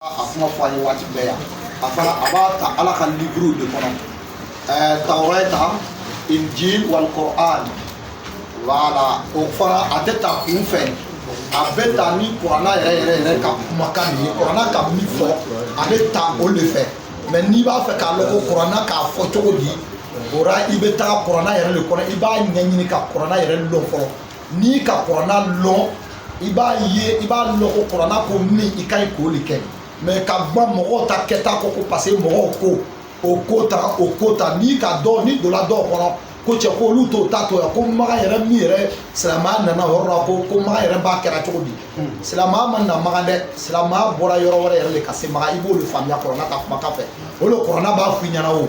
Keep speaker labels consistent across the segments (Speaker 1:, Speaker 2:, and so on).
Speaker 1: a kuma fɔ an ye waati bɛɛ yan a fana a b'a ta ala ka livre de kɔnɔ ɛɛ tawrata injil wal Quran voilà o fana a tɛ ta kun fɛ a bɛ ta ni kuranna yɛrɛ yɛrɛ yɛrɛ ka kumakan de ye kuranna ka min fɔ a bɛ ta o de fɛ mais n'i b'a fɛ k'a lɔn ko kuranna k'a fɔ cogo di o ra i bɛ taa kuranna yɛrɛ de kɔnɔ i b'a ɲɛɲini ka kuranna yɛrɛ lɔn fɔlɔ n'i ka kuranna lɔn i b'a ye i b'a lɔn ko kuranna ko min i ka ɲi k'o de kɛ mais ka gban mɔgɔw ta kɛta kɔ ko parce que mɔgɔw ko o ko ta o ko ta n'i ka dɔ n'i donna dɔw kɔnɔ ko cɛ ko olu t'o ta to yan ko maga yɛrɛ min yɛrɛ silamɛya nana yɔrɔ la ko ko maga yɛrɛ b'a kɛra cogo di hmm. silamɛya ma na maga dɛ silamɛya bɔra yɔrɔ wɛrɛ yɛrɛ de ka se maga i b'o de faamuya kuranna ka kumakan fɛ o de kuranna b'a f'i ɲɛna o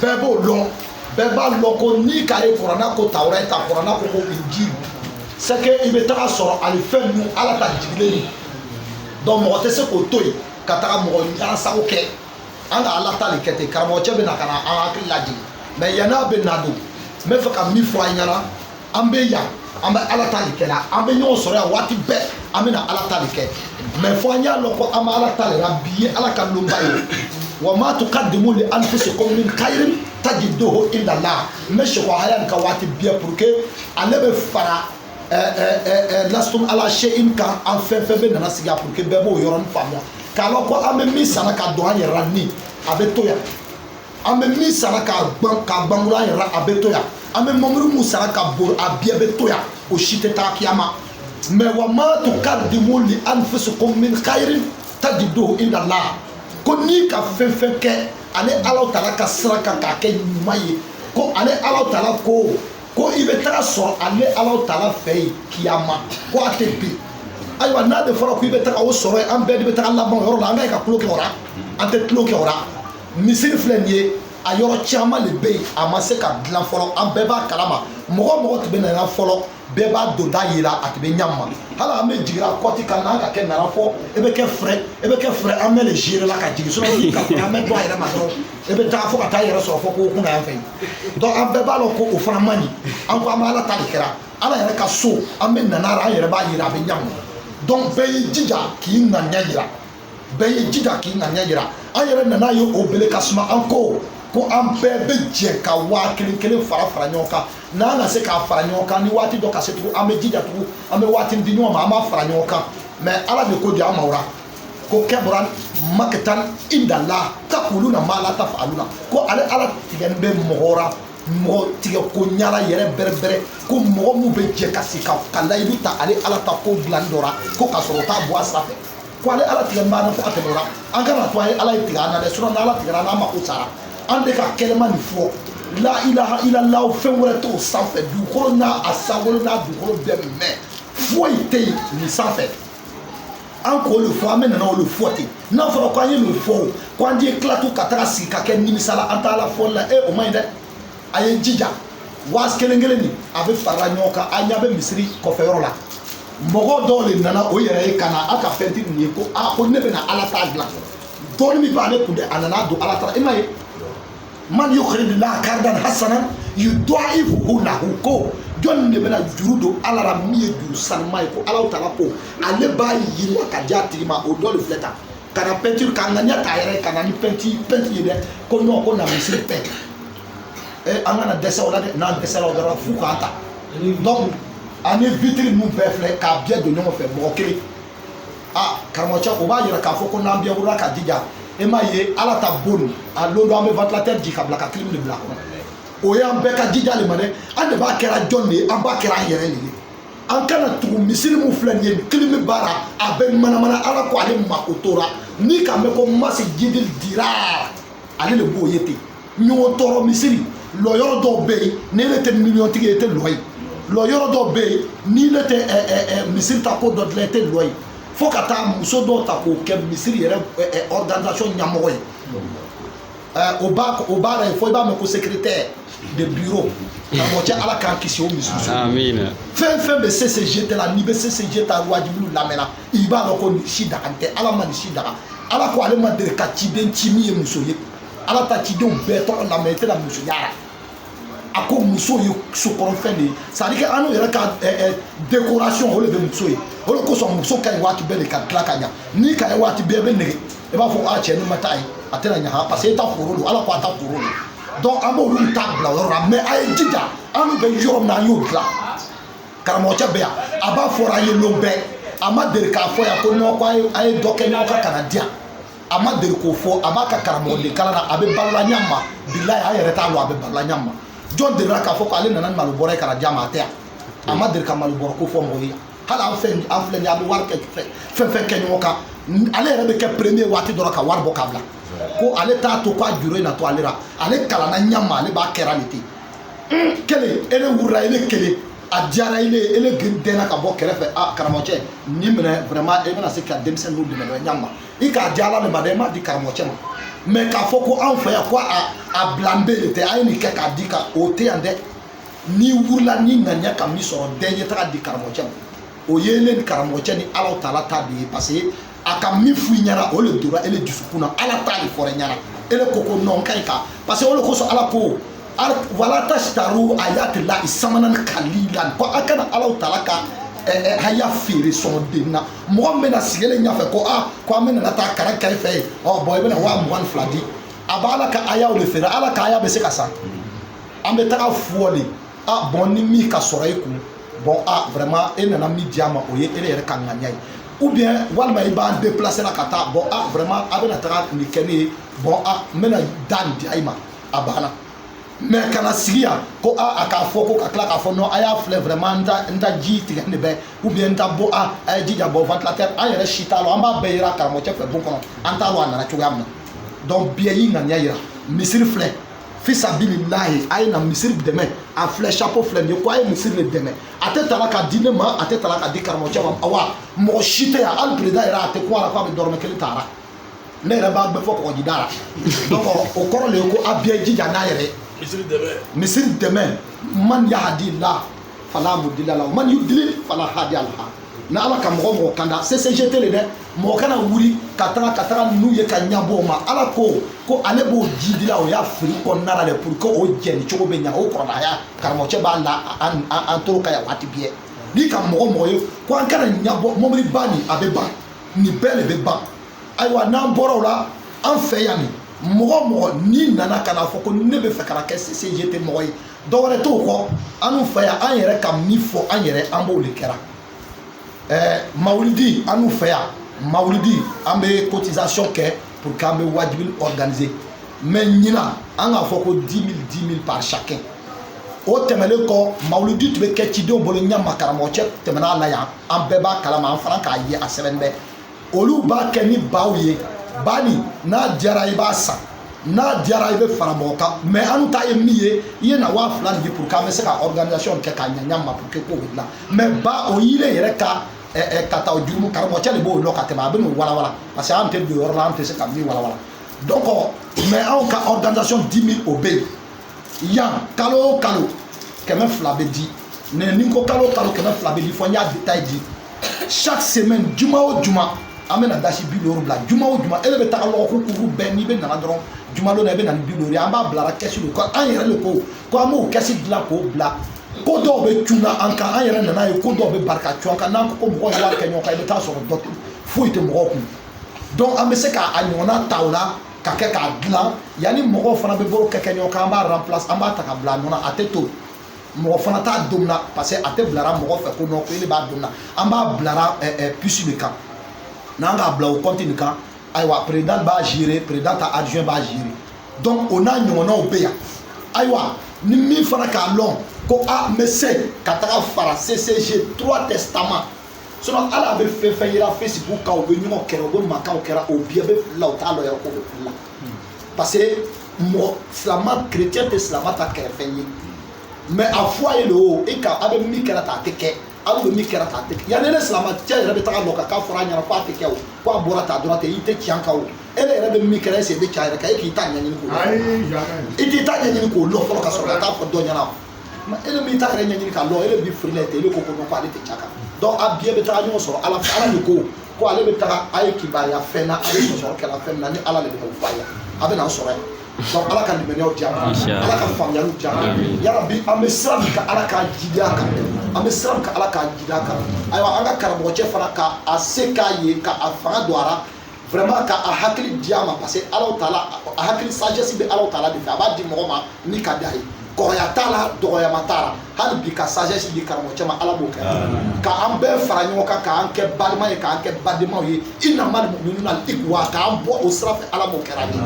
Speaker 1: bɛɛ b'o lɔn bɛɛ b'a lɔn ko n'i ka ye kuranna ko tawrata kuranna ko ko injil c'est que i bɛ taga sɔrɔ ali fɛn ninnu ala ta jigilen ye donc mɔgɔ tɛ se k'o to yen ka taga mɔgɔ ɲɛna sago kɛ an ka ala ta de kɛ ten karamɔgɔcɛ bɛ na ka na an hakili lajigin mais yan'a bɛ na don n bɛ fɛ ka min fɔ an ɲɛna an bɛ yan an bɛ ala ta de kɛ la an bɛ ɲɔgɔn sɔrɔ yan waati bɛɛ an bɛna ala ta de kɛ mais fo an y'a lɔn ko an bɛ ala ta de la bi ye ala ka lonba ye wa ma tuqaddimu li anfusikum min khairin tajiduhu inda Allah n bɛ sekɔ haya nin kan waati bɛɛ pour que ale bɛ fara lastum ala shay'in kan an fɛn fɛn bɛ nana sigi a pour que bɛɛ b'o yɔrɔnin faamuya k'a lɔn ko an bɛ min sara ka don an yɛrɛ la ni a bɛ to yan an bɛ min sara k'a ban k'a bangura an yɛrɛ a bɛ to yan an bɛ mamuru mun sara ka bolo a bɛɛ bɛ to yan o si tɛ taa kiyama mais wa ma tuqaddimu li anfusikum min khairin tajiduhu inda Allah ko n'i ka fɛn fɛn kɛ ale ala taala ka sira kan k'a kɛ ɲuman ye ko ale ala taala ko ko i bɛ taga sɔrɔ ale ala taala fɛ yen kiyama ko a tɛ bin ayiwa n'a de fɔra ko i bɛ taga o sɔrɔ yen an bɛɛ de bɛ taga laban o yɔrɔ la an ka ɲi ka tulon kɛ o la an tɛ tulon kɛ o la misiri filɛ nin ye a yɔrɔ caman de bɛ yen a ma se ka dilan fɔlɔ an bɛɛ b'a kalama mɔgɔ mɔgɔ tun bɛ nana fɔlɔ bɛɛ b'a donda yera a tun bɛ ɲa min ma hali an bɛ jigira kɔti kan n'an ka kɛ nana fɔ e bɛ kɛ fɛrɛ e bɛ kɛ fɛrɛ an bɛ le gérer la ka jigin sinon ka an bɛ bɔ a yɛrɛ ma dɔrɔn e bɛ taa fo ka taa yɛrɛ sɔrɔ fo kɔ kunna yan fɛ donc an bɛɛ b'a lɔn ko o fana man ɲi an ko an bɛ ala ta de kɛra ala yɛrɛ ka so an bɛ nana an yɛrɛ b'a yera a bɛ ɲa min ma donc bɛɛ y'i jija k'i ŋaniya yira bɛɛ y'i jija k'i ŋaniya yira an yɛrɛ nana ye o bele ka suma an ko ko an bɛɛ bɛ jɛ ka waa kelen kelen fara fara ɲɔgɔn kan n'an na se k'a fara ɲɔgɔn kan ni waati dɔ ka se tugun an bɛ jija tugun an bɛ waati di ɲɔgɔn ma an b'a fara ɲɔgɔn kan mais ala de ko di an ma o la ko kabura maqtan inda Allah taquluna ma la tafaluna ko ale ala tigɛlen bɛ mɔgɔ la mɔgɔ tigɛ ko ɲala yɛrɛ bɛrɛbɛrɛ ko mɔgɔ min bɛ jɛ ka se ka layidu ta ale ala ta ko dilanni dɔ la ko ka sɔrɔ o t'a bɔ a sira fɛ ko ale ala tigɛlen b'an na fo ka tɛmɛ o ra an kana to a ye ala ye tigɛ an na dɛ sinɔn n'ala tigɛra an n'a mako sara an de ka kɛlɛma nin fɔ la ilaha illallah fɛn wɛrɛ t'o sanfɛ dugukolo n'a a sankolo n'a dugukolo bɛɛ mɛn foyi tɛ yen nin sanfɛ an k'o de fɔ an bɛɛ nana o le fɔ ten n'a fɔra ko an ye nin fɔ o ko an ye tila tugu ka taga sigi ka kɛ nimisala an t'ala fɔli la e o man ɲi dɛ a ye jija waasi kelen kelen ni a bɛɛ farala ɲɔgɔn kan a ɲɛ bɛ misiri kɔfɛ yɔrɔ la mɔgɔ dɔ de nana o yɛrɛ ye ka na a ka fɛnti nin ye ko a ko ne bɛna ala ta dilan dɔɔni min b'ale kun dɛ a nana don ala ta ra i m'a ye man yuqridullaha qardan hasanan yudaifuhu lahu ko jɔnni de bɛna juru don ala la min ye juru sanuma ye ko ala taala ko ale b'a yiriwa ka di a tigi ma o dɔ de filɛ tan ka na pɛntiri ka ŋaniya ta yɛrɛ ka na ni pɛnti pɛnti ye dɛ ko nɔn ko na misiri pɛnti e an kana dɛsɛ o la dɛ n'an dɛsɛra o dɔrɔn f'u k'an ta donc ani vitiri ninnu bɛɛ filɛ k'a bɛɛ don ɲɔgɔn fɛ mɔgɔ kelen a karamɔgɔcɛ o b'a yira k'a fɔ ko n'an bɛɛ wulila ka jija e m'a ye ala ta bon na don dɔ an bɛ ventilateur jigi ka bila ka clim de bila a kɔnɔ o y'an bɛɛ ka jija le ma dɛ an de b'a kɛra jɔn de ye an b'a kɛra an yɛrɛ de ye an kana tugu misiri min filɛ nin ye clim b'a la a bɛ manamana ala ko ale mako t'o ra n'i k'a mɛn ko masjidil dirar ale de b'o ye ten ɲɔgɔn tɔɔrɔ misiri lɔ yɔrɔ dɔw bɛ yen ni ile tɛ miliyɔntigi ye i tɛ lɔ yen lɔ yɔrɔ dɔw bɛ yen ni ile tɛ ɛ ɛ ɛ misiri ta ko dɔ dilan i tɛ lɔ yen fo ka taa muso dɔw ta k'o kɛ misiri yɛrɛ ɛ ɛ organisation ɲɛmɔgɔ ye. o ba o ba la fo i b'a mɛn ko secrétaire de bureau karamɔgɔcɛ ala k'an kisi o ma muso fɛn fɛn bɛ ccg tɛ la n'i bɛ ccg ta wajibiw lamɛnna i b'a dɔn ko nin si daganen tɛ ala ma nin si daga ala ko ale ma deli ka ciden ci min ye muso ye ala ta cidenw bɛɛ tɔgɔ lamɛn i tɛna muso y'a la a ko muso ye sokɔrɔfɛn de ye c'est-à-dire que annu yɛrɛ ka décoration o de bɛ muso ye o de kosɔn muso ka ɲi waati bɛɛ de ka dilan ka ɲa n'i k'a ye waati bɛɛ i bɛ nege i b'a fɔ a cɛ n'i ma taa yen a tɛna ɲa parce que i ta foro don ala ko a ta foro don donc an b'olu ta bila yɔrɔ la mais a ye jija annu bɛ yɔrɔ min na an y'o dilan karamɔgɔcɛ bɛ yan a b'a fɔra an ye lon bɛɛ a ma deli k'a fɔ yan ko nɔn ko a ye dɔ kɛ ɲɔgɔn kan ka na di yan a ma deli k'o fɔ a b'a ka karamɔgɔden kalan na a bɛ balola ɲa ma bilayi an yɛrɛ t'a dɔn a bɛ balola ɲa ma jɔn delila k'a fɔ ko ale nana malo bɔrɛ ka na d'a ma a tɛ yan a ma deli ka malo bɔrɛ ko fɔ mɔgɔ ye hali an fɛn an filɛ nin ye a bɛ wari kɛ fɛn fɛn kɛ ɲɔgɔn kan ale yɛrɛ bɛ kɛ premier waati dɔ la ka wari bɔ k'a bila ko ale t'a to k'a juru in na to ale la ale kalanna ɲa ma ale b'a kɛra de ten kelen ele wurila ele kelen a diyara ile ele dɛnna ka bɔ kɛrɛfɛ a karamɔgɔcɛ nin minɛ vraiment e bɛna se ka denmisɛnninw dɛmɛ dɔ ɲa ma i k'a di ala de ma dɛ i m'a di karamɔgɔ cɛ ma mais k'a fɔ ko anw fɛ yan ko a a bilan bɛ de tɛ a ye nin kɛ k'a di ka o tɛ yan dɛ n'i wulila n'i ŋaniya ka min sɔrɔ bɛɛ ɲɛ taga di karamɔgɔ cɛ ma o ye e le ni karamɔgɔ cɛ ni ala taala ta de ye parce que a ka min f'i ɲɛna o le donna e le dusukun na ala ta de fɔra ɲɛna e le ko ko non ka ɲi ka parce que o le kosɔn ala ko wala tasitaru ayatillahi samanan kalila ko a kana ala taala ka haya feere sɔngɔden na mɔgɔ min bɛna sigilen ɲɛfɛ ko a ko an bɛna taa kara kari fɛ yen ɔ bon i bɛna waa mugan ni fila di a bɛ ala ka ayaw de feere ala ka aya bɛ se ka san an bɛ taga fo de a bon ni min ka sɔrɔ e kun bon a vraiment e nana min di a ma o ye e le yɛrɛ ka ŋaniya ye ou bien walima i b'an déplacer la ka taa bon a vraiment a bɛna taga nin kɛ ne ye bon a n bɛna da nin di a ma a banna mais kana sigi yan ko a a k'a fɔ ko ka tila k'a fɔ non a y'a filɛ vraiment n ta n ta ji tigɛlen bɛ ou bien n ta bo a a ye jija bɔ ventilateur an yɛrɛ si t'a lɔ an b'a bɛɛ yera karamɔgɔcɛ fɛ bon kɔnɔ an t'a lɔ a nana cogoya min na donc bɛɛ y'i ŋaniya yira misiri filɛ fisabililahi a ye na misiri dɛmɛ a filɛ chapeau filɛ nin ye ko a ye misiri de dɛmɛ a tɛ tala ka di ne ma a tɛ tala ka di karamɔgɔcɛ ma awa mɔgɔ si tɛ yan hali président yɛrɛ a tɛ ko a la ko a bɛ dɔrɔmɛ kelen ta a la ne yɛrɛ b'a bɛɛ fɔ kɔgɔji da la donc o kɔrɔ le ye ko a bɛɛ jija n'a yɛrɛ misiri dɛmɛ misiri dɛmɛ man yahdillah fala mudila la man yudili fala hadiya lah ni ala ka mɔgɔ mɔgɔ kanda CCGT le dɛ mɔgɔ kana wuli ka taga ka taga n'u ye ka ɲabɔ o ma ala ko ko ale b'o jidi la o y'a fili kɔnɔna la dɛ pour que o jɛni cogo bɛ ɲa o kɔrɔbaya karamɔgɔcɛ b'a la an toro kan yan waati bɛɛ n'i ka mɔgɔ mɔgɔ ye ko an kana ɲabɔ mɔbiliba nin a bɛ ban nin bɛɛ le bɛ ban ayiwa n'an bɔra o la an fɛ yan nin mɔgɔ o mɔgɔ n'i nana ka n'a fɔ ko ne bɛ fɛ ka na kɛ CCGT mɔgɔ ye dɔwɛrɛ t'o kɔ an fɛ yan an yɛrɛ ka min fɔ an yɛrɛ an b'o de kɛra ɛɛ mawulidi an fɛ yan mawulidi an bɛ cotisation kɛ pour que an bɛ wajibi organiser mais ɲinan an k'a fɔ ko dix mille dix mille par chacun o tɛmɛnen kɔ mawulidi tun bɛ kɛ cidenw bolo ɲɛ ma karamɔgɔ cɛ tɛmɛna a la yan an bɛɛ b'a kalama an fana k'a ye a sɛbɛnnen bɛ olu b'a kɛ ni baw ye ba nin n'a diyara i b'a san n'a diyara i bɛ fara mɔgɔ kan mais an ta ye min ye i ye na waa fila di pour que an bɛ se ka organisation kɛ k'a ɲaɲa ma pour que k'o bɛ dilan mais ba o y'e le yɛrɛ ka ka taa jurumu karamɔgɔcɛ de b'o lɔn ka tɛmɛ a bɛ n'o walawala parce que an tɛ don yɔrɔ la an tɛ se ka min walawala donc mais anw ka organisation dix mille o bɛ yen yan kalo o kalo kɛmɛ fila bɛ di mais ni ko kalo o kalo kɛmɛ fila bɛ di fɔ n y'a détail di chaque semaine juma o juma an bɛna dasi bi duuru bila juma o juma e de bɛ taga lɔgɔkun kuru bɛɛ n'i bɛ nana dɔrɔn juma don na i bɛ na ni bi duuru ye an b'a bilara kɛsi de ko an yɛrɛ de ko ko an b'o kɛsi dilan k'o bila ko dɔw bɛ cunna an kan an yɛrɛ nana ye ko dɔw bɛ bari ka cun an kan n'an ko mɔgɔw ye wari kɛ ɲɔgɔn kan i bɛ taa sɔrɔ dɔ foyi tɛ mɔgɔw kun donc an bɛ se k'a ɲɔgɔnna ta o la ka kɛ k'a dilan yanni mɔgɔw fana bɛ bolo kɛ ɲɔgɔn kan an b'a remplacer an b'a ta ka bila a nɔ na a tɛ to mɔgɔ fana t'a domuna parce que a tɛ bilara mɔgɔ fɛ ko non ko e de b'a domuna an b'a bilara eh, eh, puce de kan n'an k'a bila o compte nin kan ayiwa président b'a gérer président ta adjoint b'a gérer donc o n'a ɲɔgɔnnaw bɛ yan ayiwa ni min fana k'a lɔn ko a n bɛ se ka taga fara ccg trois testament sinon ala bɛ fɛn fɛn yira facebook kan u bɛ ɲɔgɔn kɛrɛ u bɛ mankanw kɛra o bɛɛ bɛ fili la u t'a lɔn yɛrɛ k'o bɛ fili la parce que mɔgɔ silama chrétien tɛ silama ta kɛrɛfɛ ye mais a fɔ a ye le o e ka a bɛ min kɛra ta a tɛ kɛ aw bɛ min kɛra ta a tɛ kɛ yanni ne silamacɛ yɛrɛ bɛ taga lɔ k'a fɔra a ɲɛna ko a tɛ kɛ o ko a bɔra ta dɔrɔn tɛ i tɛ tiɲɛ kan o e de yɛrɛ bɛ min kɛra e sen bɛ tiɲɛ yɛrɛ kan e k'i ta ɲɛɲini k'o lɔn i t'i ta ɲɛɲini k'o lɔn fɔlɔ ka sɔrɔ ka taa fɔ dɔ ɲɛna mais e de b'i ta yɛrɛ ɲɛɲini k'a lɔn e de b'i firi la ten e de ko ko non ko ale tɛ tiɲɛ kan donc a bɛɛ bɛ taga ɲɔgɔn sɔrɔ ala fɛ ala de ko ko ale bɛ taga a ye kibaruya fɛn na a bɛ sɔsɔri kɛra fɛn na ni ala de bɛ n'o fɔ a ye a bɛ n'an sɔrɔ yan donc ala ka limaniyaw di an ma ala ka faamuyaliw di an ma yarabi an bɛ sira min kan ala k'an jidi a kan an bɛ sira min kan ala k'an jidi a kan ayiwa an ka karamɔgɔcɛ fana ka a se k'a ye ka a fanga don a la vraiment ka a hakili di a ma parce que ala taala a hakili sagesse bɛ ala taala de fɛ a b'a di mɔgɔ ma ni ka d'a ye kɔrɔya t'a la dɔgɔyama t'a la hali bi ka sagesse di karamɔgɔcɛ ma ala m'o kɛra ka an bɛɛ fara ɲɔgɔn kan k'an kɛ balima ye k'an kɛ badenmaw ye innamal muminuna ikhwa k'an bɔ o sira fɛ ala m'o kɛra ni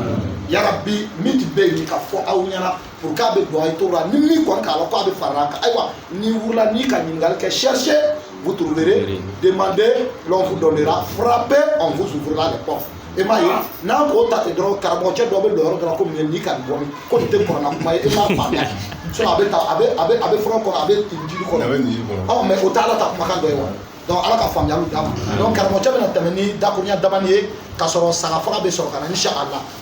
Speaker 1: yarabi min tun bɛ yen ka fɔ aw ɲɛna pour que a bɛ don a ye to la ni min kɔni k'a lɔn k'a bɛ fara kan ayiwa n'i wulila n'i ka ɲininkali kɛ cherchez vous trouverez demandez l'on vous donnera frappez on vous ouvrira les portes e m'a ye n'an k'o ta ten dɔrɔn karamɔgɔcɛ dɔ bɛ lɔ yɔrɔ dɔ la ko mun ye nin ka bɔ min ko nin tɛ kurana kuma ye e m'a faamuya sinon a bɛ ta a bɛ a bɛ a bɛ fura kɔnɔ a bɛ injili kɔnɔ a bɛ injili kɔnɔ mais o tɛ ala ta kumakan dɔ ye wa donc ala ka faamuyaliw d'an ma donc karamɔgɔcɛ bɛna tɛmɛ ni dakurunya damani ye k'a sɔrɔ saga faga bɛ sɔrɔ ka na inshallah